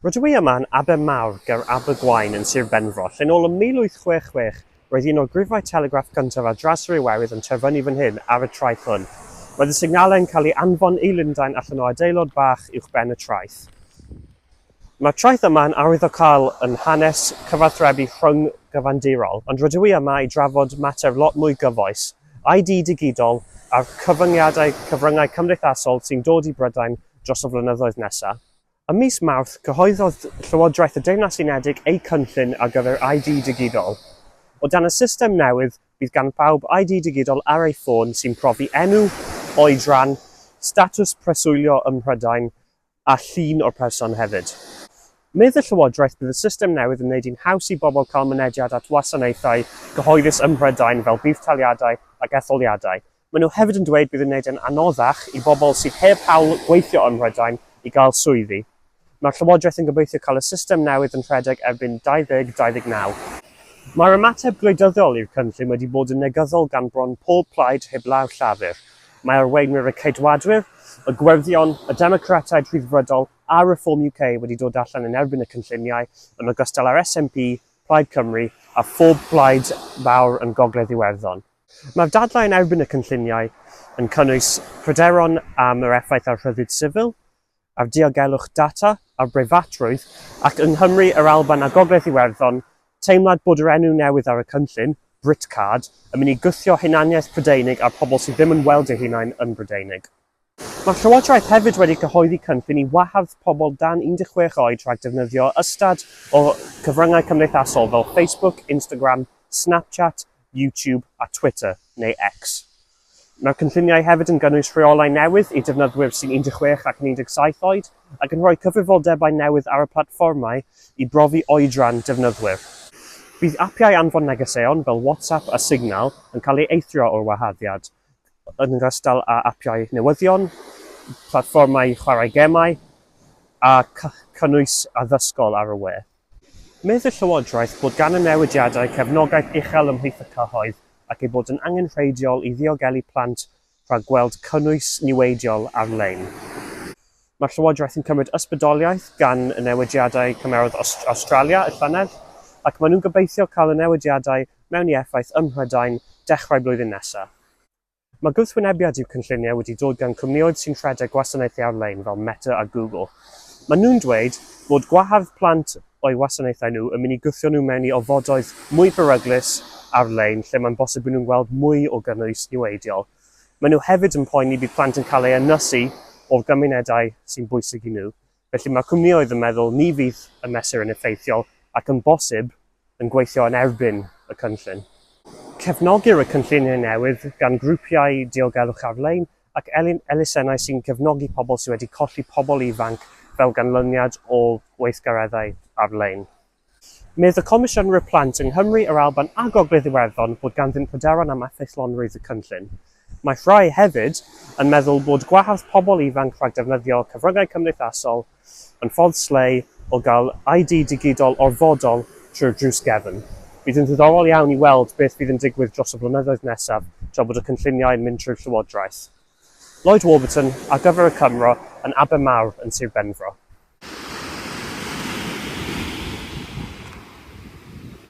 Rydw i yma yn Aber Mawr ger Abergwaun yn Sir Benfro, lle'n ôl ym 1866 roedd un o'r grifau telegraff gyntaf ar draws yr Iwerydd yn terfynu fan hyn ar y traeth hwn. Roedd y signallau yn cael eu anfon i Lundain allan o adeilod bach uwchben y traeth. Mae'r traeth yma yn arwyddocaol yn hanes cyfathrebu rhyng-gyfandirol, ond rydw i yma i drafod mater lot mwy gyfoes, ID digidol a'r cyfyngiadau cyfryngau cymdeithasol sy'n dod i Brydain dros y flynyddoedd nesaf. Ym mis Mawrth, cyhoeddodd Llywodraeth y Deyrnas Unedig eu cynllun ar gyfer ID digidol. O dan y system newydd, bydd gan bawb ID digidol ar eu ffôn sy'n profi enw, oedran, statws preswylio ym Mhrydain a llun o'r person hefyd. Medd y Llywodraeth bydd y system newydd yn wneud hi'n haws i bobl cael mynediad at wasanaethau cyhoeddus ym Mhrydain fel budd-taliadau ac etholiadau, Maen nhw hefyd yn dweud bydd yn gwneud yn anoddach i bobl sydd heb hawl gweithio ym Mhrydain i gael swyddi. Mae'r Llywodraeth yn gobeithio cael y system newydd yn rhedeg erbyn 2029. Mae'r ymateb gwleidyddiol i'r cynllun wedi bod yn negyddol gan bron pob plaid heblaw Llafur. Mae arweinwyr y Ceidwadwyr, y Gwyrddion, y Democratiaid Rhyddfrydol a Reform UK wedi dod allan yn erbyn y cynlluniau, yn ogystal â'r SNP, Plaid Cymru a phob plaid fawr yn Gogledd Iwerddon. Mae'r dadlau yn erbyn y cynlluniau yn cynnwys pryderon am yr effaith ar rhyddid sifil, ar diogelwch data, ar breifatrwydd, ac yng Nghymru, yr Alban a Gogledd Iwerddon, teimlad bod yr enw newydd ar y cynllun, Britcard, yn mynd i gwthio hunaniaeth Prydeinig a'r pobl sydd ddim yn weld eu hunain yn Brydeinig. Mae'r Llywodraeth hefyd wedi cyhoeddi cynllun i wahardd pobl dan 16 oed rhag defnyddio ystad o gyfryngau cymdeithasol fel Facebook, Instagram, Snapchat, YouTube a Twitter, neu X. Mae'r cynlluniau hefyd yn gynnwys rheolau newydd i defnyddwyr sy'n 16 ac yn 17 oed ac yn rhoi cyfrifoldebau newydd ar y platfformau i brofi oedran defnyddwyr. Bydd apiau anfon negeseuon fel WhatsApp a Signal yn cael eu eithrio o'r waharddiad, yn ogystal â apiau newyddion, platfformau chwarae gemau a chynnwys addysgol ar y we. Medd y Llywodraeth bod gan y newidiadau cefnogaeth uchel ymhlith y cyhoedd ac eu bod yn angenrheidiol i ddiogelu plant rhag gweld cynnwys niweidiol ar-lein. Mae'r Llywodraeth yn cymryd ysbrydoliaeth gan y newidiadau cymerodd Awstralia y llynedd, ac maen nhw'n gobeithio cael y newidiadau mewn i effaith ym Mhrydain dechrau blwyddyn nesaf. Mae gwrthwynebiad i'w cynlluniau wedi dod gan cwmnïoedd sy'n rhedeg gwasanaethau ar-lein fel Meta a Google. Maen nhw'n dweud fod gwahardd plant o'u wasanaethau nhw yn mynd i gwthio nhw mewn i ofodoedd mwy peryglus ar-lein lle mae'n bosib bod nhw'n gweld mwy o gynnwys niweidiol. Maen nhw hefyd yn poeni bydd plant yn cael eu ynysu o'r gymunedau sy'n bwysig i nhw, felly mae cwmnioedd yn meddwl ni fydd y mesur yn effeithiol ac yn bosib yn gweithio yn erbyn y cynllun. Cefnogir y cynlluniau newydd gan grwpiau diogelwch ar-lein ac elusennau sy'n cefnogi pobl sydd wedi colli pobl ifanc fel ganlyniad o weithgareddau ar-lein. Medd y Comisiynwyr Plant yng Nghymru, yr Alban a Gogledd Iwerddon bod ganddynt pryderon am effeithlonrwydd y cynllun. Mae rhai hefyd yn meddwl bod gwahardd pobl ifanc rhag defnyddio cyfryngau cymdeithasol yn ffordd slei o gael ID digidol orfodol trwy'r drws gefn. Bydd yn ddiddorol iawn i weld beth fydd yn digwydd dros y blynyddoedd nesaf tra bod y cynlluniau yn mynd trwy'r Llywodraeth. Lloyd Warburton ar gyfer y Cymro yn Aber Mawr yn Sir Benfro.